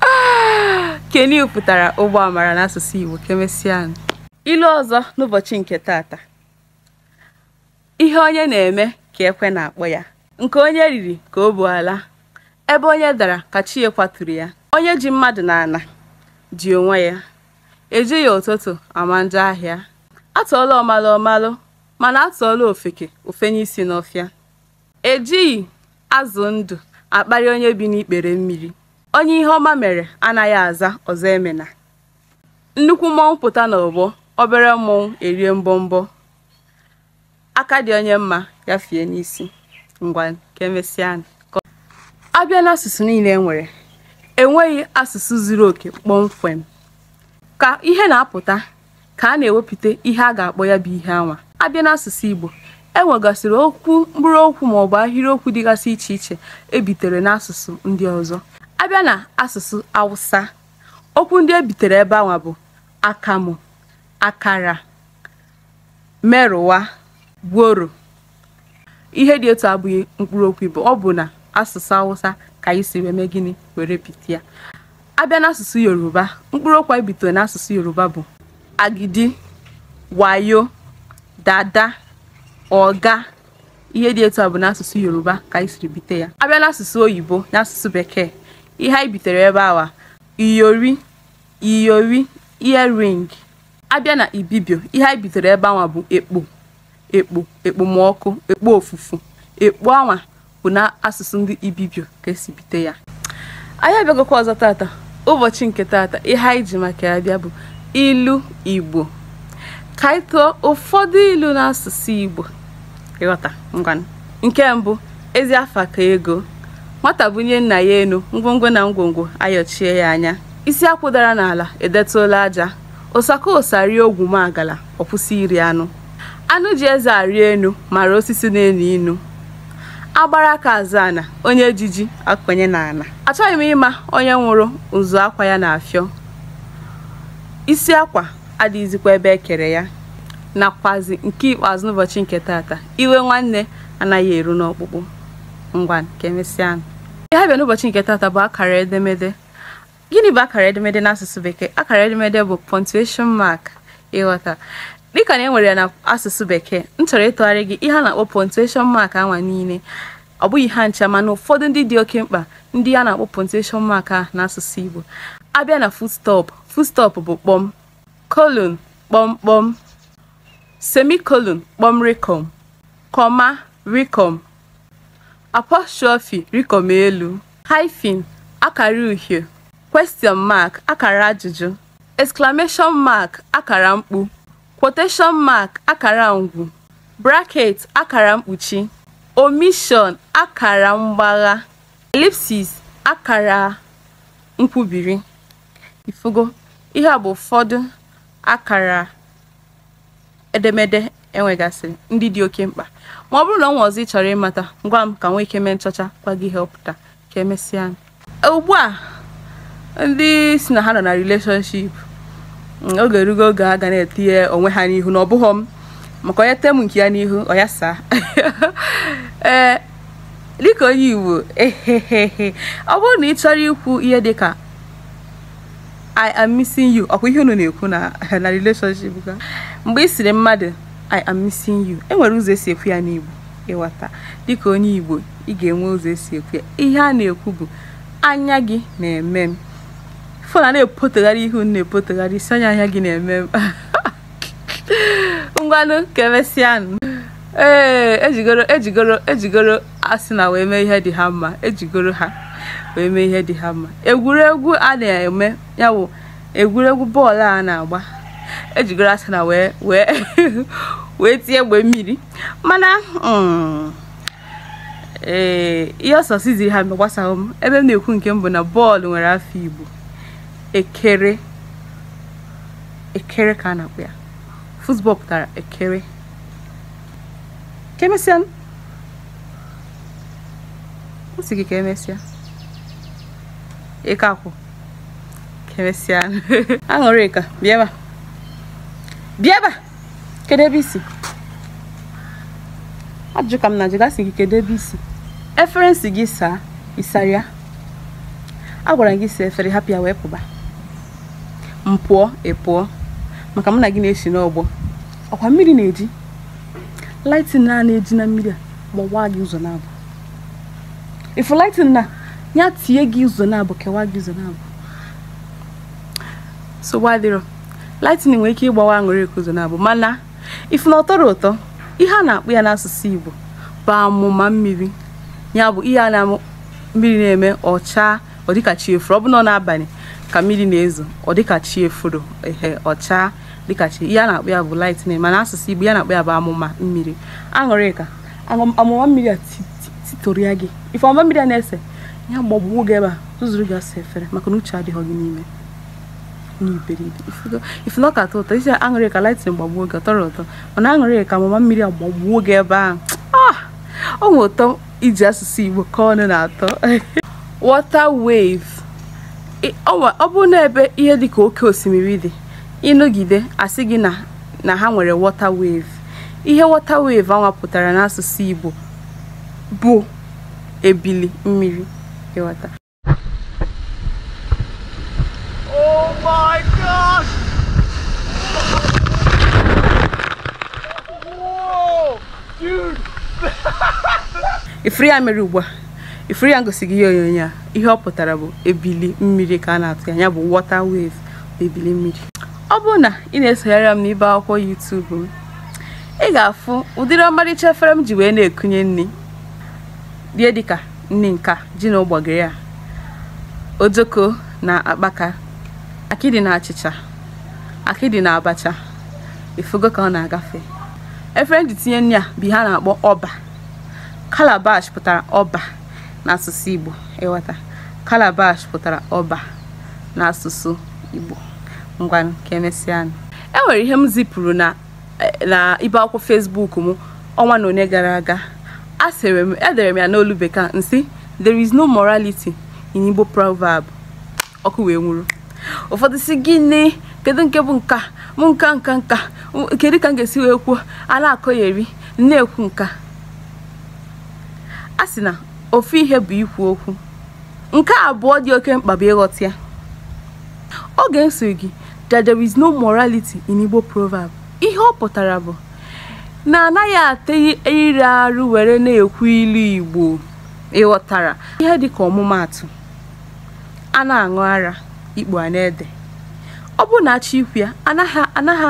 Ah, canoe pụtara ụgbọ amara n'asụsụ Igbo ka emesịanụ ilu ọzọ n'ụbọchị nke tata ihe onye na-eme ka ekwe na-akpọ ya nke onye riri ka o bu ala ebe onye dara ka chi ya kwaturu ya onye ji mmadụ n'ana ji onwe ya ejighị ụtụtụ ama njọ ahịa atụọlụ ọmalụ ọ malụ mana atụọlụ ofeke o fenye isi n'ọfịa ejighị azụ ndụ akparị onye bi n'ikpere mmiri onye ihe ọma mere anaghị aza ọzọ emena nnukwu mmọnwụ pụta n'ọgbọ obere mmọnwụ erie mbọmbọ aka dị onye mma ya fie n'isi ngwa ka emesịanụ abịa n'asụsụ niile e nwere enweghị asụsụ zuru oke kpọmkwem ka ihe na-apụta ka a na-ewepụta ihe a ga-akpọ ya bụ ihe anwa abịa n'asụsụ Igbo e nwegasịrị okwu mkpụrụ okwu ma ọ bụ ahịrịokwu dịgasị iche iche ebitere n'asụsụ ndị ọzọ abịa na asụsụ Awụsa okwu ndị ebitere ebe anwa bụ akamụ akara merụwa gworo ihe dị etu a abụghị mkpụrụ okwu Igbo ọ bụ na asụsụ Awụsa ka anyị si wee mee gịnị were bite ya abịa n'asụsụ Yoruba mkpụrụ okwu anyị bitere n'asụsụ Yoruba bụ agidi wayo dada ọga ihe dị etu a bụ n'asụsụ Yoruba ka anyị siri bite ya abịa n'asụsụ oyibo n'asụsụ bekee ihe anyị bitere ebe anwa iyori iyori earring abịa na ibibio ihe anyị bitere ebe anwa bụ ekpo ekpo ekpomọkụ ekpo ofufu ekpo anwa bụ na asụsụ ndị ibibio ka esi bite ya anyị abịagokwa ọzọ tata ụbọchị nke tata ihe anyị ji maka ya bịa bụ ilu igbo ka anyị tụọ ụfọdụ ilu n'asụsụ igbo ị ghọta ngwanụ nke mbụ ezi afa ka ego nwata bunie nna ya enu ngwongwo na ngwongwo ayọchie ya anya isi akwụ dara n'ala edetụla aja ụsaka ụsa rie ogwumagala ọ kwụsị iri anụ anụ ji eze arị enu mara osisi na-enu inu agbara aka azọ ana onye ji ji akọnye n'ana achọghị m ịma onye nwụrụ ụzụ akwa ya na-afịọ isi akwa adịghịzikwa ebe ekere ya nakwazi nke ikpeazụ n'ụbọchị nke tata iwe nwanne anaghị eru n'ọkpụkpụ ngwanụ ka emesịa ihe bịa n'ụbọchị nke tata bụ akara edemede gịnị bụ akara edemede n'asụsụ bekee akara edemede bụ punctuation mark ị ghọta dịka na e nwere ya na asụsụ bekee m chọrọ ịtụgharị gị ihe a na-akpọ punctuation mark anwa niile ọ bụghị ha ncha mana ụfọdụ ndị dị oke mkpa ndị a na-akpọ punctuation mark a n'asụsụ Igbo abịa na full stop full stop bụ kpọm colon kpọmkpọm semicolon kpọmrịkọm comma rịkọm apostrophe rịkọm elu hyphen akara uhie question mark akara ajụjụ exclamation mark akara mkpu quotation mark akara ngwu bracket akara mkpuchi omission akara mgbagha ellipsis akara nkwubiri ifugo ihe a bụ ụfọdụ akara edemede e nwegasịrị ndị dị oke mkpa ma ọ bụrụ na o nwee ọzọ ị chọrọ ịmata ị gwa m ka nwee ike mee nchọcha gwa gị ihe ọ pụta ka emesịa e, ugbu a ndị sị na ha nọ na relationship mm, oge erugo oge a ga na-etinye onwe ha n'ihu na ọ bụghị m maka onye tem nke ya n'ihu ọ ya saa ee eh, dịka onye Igbo ehehehe ọ bụrụ na ị chọrọ ikwu ihe dịka I am missing you ọkwa ihe unu na-ekwu na na relationship ga mgbe ị sịrị mmadụ I am missing you e nwere ụzọ e si ekwu ya n'Igbo ị ghọta dịka onye Igbo ị ga-enwe ụzọ e si ekwu ya ihe a na-ekwu bụ anya gị na-eme m fona na-epotegharị ihu na-epotegharị isi anya anya gị na-eme m ngwanụ ka emesịanụ ee ejigoro ejigoro ejigoro Arsenal wee mee ihe dị ha mma ejigoro ha wee mee ihe dị ha mma egwuregwu a na-eme ya bụ egwuregwu bọọlụ a na-agba ejigoro Arsenal wee wee wee tie egbe mmiri mana mm, ee ihe ọ sọsịzịrị ha mee gbasaghị m ebe m na-ekwu nke m bụ na bọọlụ nwere afa Igbo ekere ekere ka a na-akpọ ya football pụtara ekere ka emesịa m sị gị ka emesịa ị ka akwụ ka emesịa Aṅụrịka bịa ebe a bịa ebe a kedu ebe i si ajụjụ ka m na-ajụgasị gị kedu ebe i si efere m sị gị saa ị sara ya agwara m gị saa efere hapụ ya wee pụba m pụọ ị pụọ maka mụ na gị na-esi n'ọgbọ ọkwa mmiri na-eji lightning na na-eji na mmiri agbawaa gị ụzọ naabọ ị fụ lightning na ya tie gị ụzọ naabọ kewaa gị ụzọ naabọ so wadịrọ lightning nwere ike ịgbawa Aṅụrịka ụzọ naabọ mana ị fụ na ọ tọrọ ụtọ ihe a na-akpọ ya n'asụsụ Igbo bụ amụma mmiri ya bụ ihe a na mmiri na-eme ọcha ọ dịka chi efuru ọ bụnụ n'abalị ka mmiri na-ezo ọ dịka chi efuru ehe ọcha dịka chi ihe a na-akpọ ya bụ lightning mana asụsụ Igbo ihe a na-akpọ ya bụ amụma mmiri Aṅụrịka aṅụ- amụma mmiri a ti- ti- titorụ ya gị ife amụma mmiri a na-ese ya gbagbuo gị ebe a zụzụrụ gị asa efere maka na uche adịghị gị n'ime n'iberibe Ifugo- ị fụ na ọ ka atọ ụtọ ị sị Aṅụrịka lightning gbagbuo gị ọ tọrọ ụtọ mana Aṅụrịka amụma mmiri a gbagbuo gị ebe ahụ Ah! o nwere ụtọ iji asụsụ Igbo ka ọnụ na-atọ water wave ọ bụ n'ebe ihe dị ka oke osimiri dị ịnọgide asị gị na ha nwere water wave ihe water wave anwa pụtara n'asụsụ Igbo bụ ebili mmiri ịghọta ifuru ya mere ugbu a ifuru ya ngosi gị ihe onyonyo a ihe ọ pụtara bụ ebili mmiri ka a na-atụ ya ya bụ water wave bụ ebili mmiri ọ bụrụ na ị na-esonyere m n'ibe akwụkwọ YouTube m ị ga-afụ ụdịrị ọmarịcha efere m ji wee na-ekunye nri rie dịka nri nka ji na ụgbọgịrị a ojoko na akpaka akịdị na achịcha akịdị na abacha ifugo ka ọ na-agafe efere m ji tinye nri a bụ ihe a na-akpọ ọba calabash pụtara ọba n'asụsụ igbo ịghọta calabash pụtara ọba n'asụsụ igbo ngwanụ ka emesịa e nwere ihe m zipụrụ na eh, na ibe akwụkwọ Facebook m ọnwa na one gara aga a sịrị m edere m ya n'olu bekee nsị there is no morality in Igbo proverb ọkụ wee nwuru ụfọdụ sị gịnị kedu nke bụ nka m nka nka nka kedu ka m ga-esi wee kwuo a na-akọgheri na-ekwu nka a sị na ofu ihe bụ ikwu okwu nke abụọ dị oke mkpa bụ ịghọta ya oge nsị gị that there is no morality in Igbo proverb ihe ọ pụtara bụ na anaghị ata ire arụ were na-ekwu ilu Igbo ịghọtara ihe dịka ọmụmaatụ a na-aṅụ ara ikpu a na-ede ọ bụ na achọ ikwu ya anaghị anaghị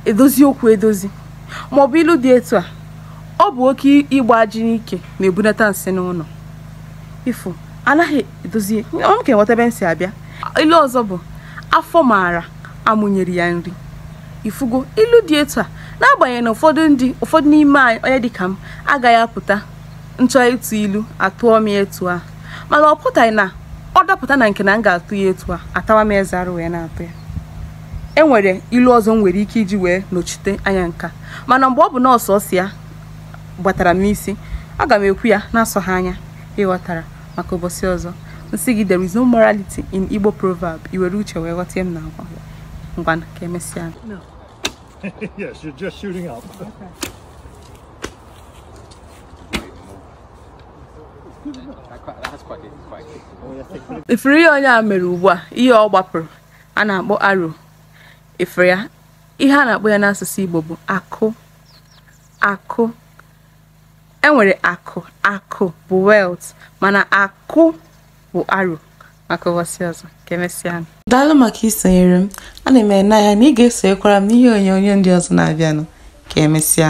edozi okwu edozi maọbụ ilu dị etu a ọ bụ oke ịgba ajị n'ike na-ebunata nsị n'ụlọ ifu anaghị edozi ọ m ka enweta ebe m si abịa ilu ọzọ bụ afọ maara amụ nyere ya nri ifugo ilu dị etu a n'agbanyeghị na ụfọdụ ndị ụfọdụ n'ime anyị onye dịka m agaghị apụta nchọ ịtụ ilu atụọ m etu a mana ọ pụtaghị na ọ dapụta na nke na m ga-atụ ya etu a atawa m eze arụ wee na-atụ ya e nwere ilu ọzọ m nwere ike iji wee nọchite anya nka mana mgbe ọ bụ nọọ sọọsọ ya gbatara m n'isi aga m ekwu ya na-asọghị anya ịghọtara maka ụbọchị ọzọ nsị gị there is no morality in Igbo proverb i were uche wee ghọta ihe m na-agwa gị. ngwanụ ka emesịa yes, you're just shooting up. ifuru ihe onye a mere ugbu a ihe ọ gbapụrụ a na-akpọ arrow ifuru ya ihe a na-akpọ ya n'asụsụ Igbo bụ akụ akụ enwere akụ akụ bụ wealth mana akụ bụ arrow maka ụbọchị ọzọ ka emesịa daalụ maka isonyere m ana m ene anya na ị ga-esonyekwara m n'ihe onyonyo ndị ọzọ na-abịanụ ka emesịa